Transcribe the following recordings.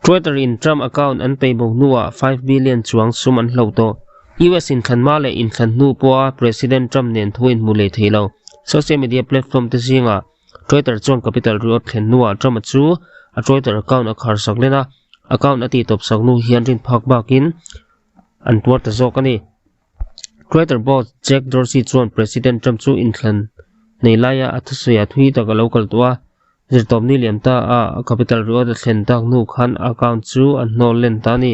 Twitter in Trump account an peihbawk hnuah five billion chuang sum an hlo tawh. US in thlanhma leh inthlan hnu pawha President Trump nen thu a inhmu leh thei lo. Social media platform te zingah Twitter chuan Capitol ri awt thlen hnuah Trump a chu a Twitter account a kharsak len a, account a tihtawpsak hnu hian rinphak bakin an tuar ta zawk a ni. Crater boss Jack Dorsey chuan President Trump chu inthlan nei laia a thusawi ah thu hi tak a lo kal tawh a, zirtawpni lian ta a Capitol riawt a thlen tak hnu khan a account chu a hnawl len ta a ni.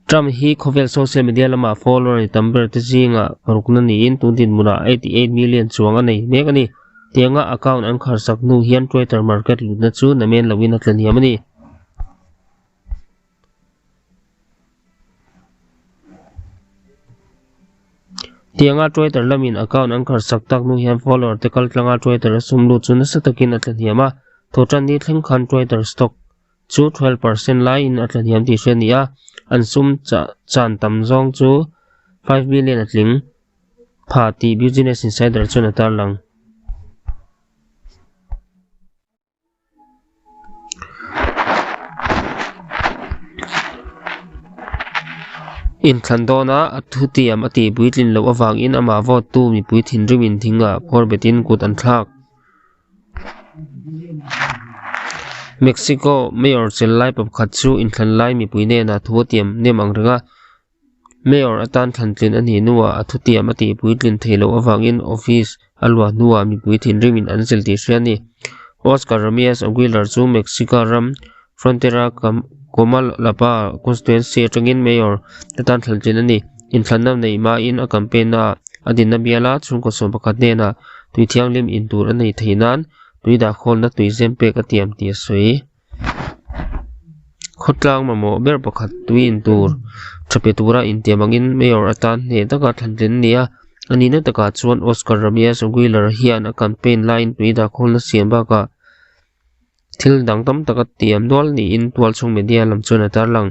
Trump hi khawvel social media lamah follower ni tam ber te zinga parukna niin tun dinhmunah eighty eight million chuang a nei mek a ni. Tianga account an kharsak hnu hian Crater market lutna chu na men loin a tla hniam a ni. Tianga Twitter lamin account an karsak tak hnu hian follower te kal tlanga Twitter a sum lut chu nasa takin a tla hniam a. Thotan ni thleng khan Twitter stock chu twelve percent laiin a tla hniam tih hriat nia. An sum chah chan tam zawng chu five million a tling pha tih Business Insider chuan a tarlang. inthlan dawna a thutiam a ti puitling loh avangin amah vote tu mipui thinrim inthinga kawr bet in kut an thlak mexico mayor chenlai pa pakhat chu inthlan lai mipui nen a thu atiam nem ang reng a. Mayor atan thlantlin a ni hnuah a thutiam a tih puitlin thei loh avangin office a luah hnuah mipui thinrim in an zil tih hria a ni. Oscar Ramirez Aguilar chu Mexica ram Frontera Comalapa constituency atangin mayor atan thlantlin a ni. Inthlanna neih mahin a campaign-a a dinna bial a, chhungkaw sawm pakhat hnenah tui thianghlim in tur a nei thei nan tui dah khawnna tui zem pek a tiam tih a sawi. khawtlang mamawh ber pakhat tui in tur tha pe tura intiam angin mayor atan hneh taka thlan tlen a ni a a nihna takah chuan oscar ramia wheeler hian a campaign lai in tui dah khawl na siam bakah thil dang tam tak a tiam nual niin tualchhung media lam chuan a tarlang.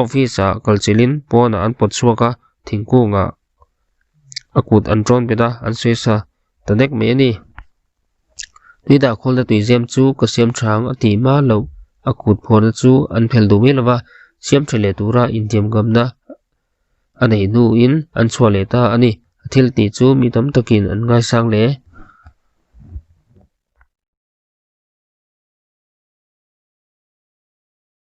Office ah kal chilh in pawn ah an pawt chhuak a, thingkung ah a kut an tawn bet a, an sawi sa ta dek mai a ni. Tui dah khawl na tuizem chu ka siam tha ang a tih hmal loh, a kut phawn a chu an phelh duh mai lo va, siam tha leh tur a intiam ngam na a nei hnu in an chhuah leh ta a ni, a thil tih chu mi tam tak in an ngai sang hle.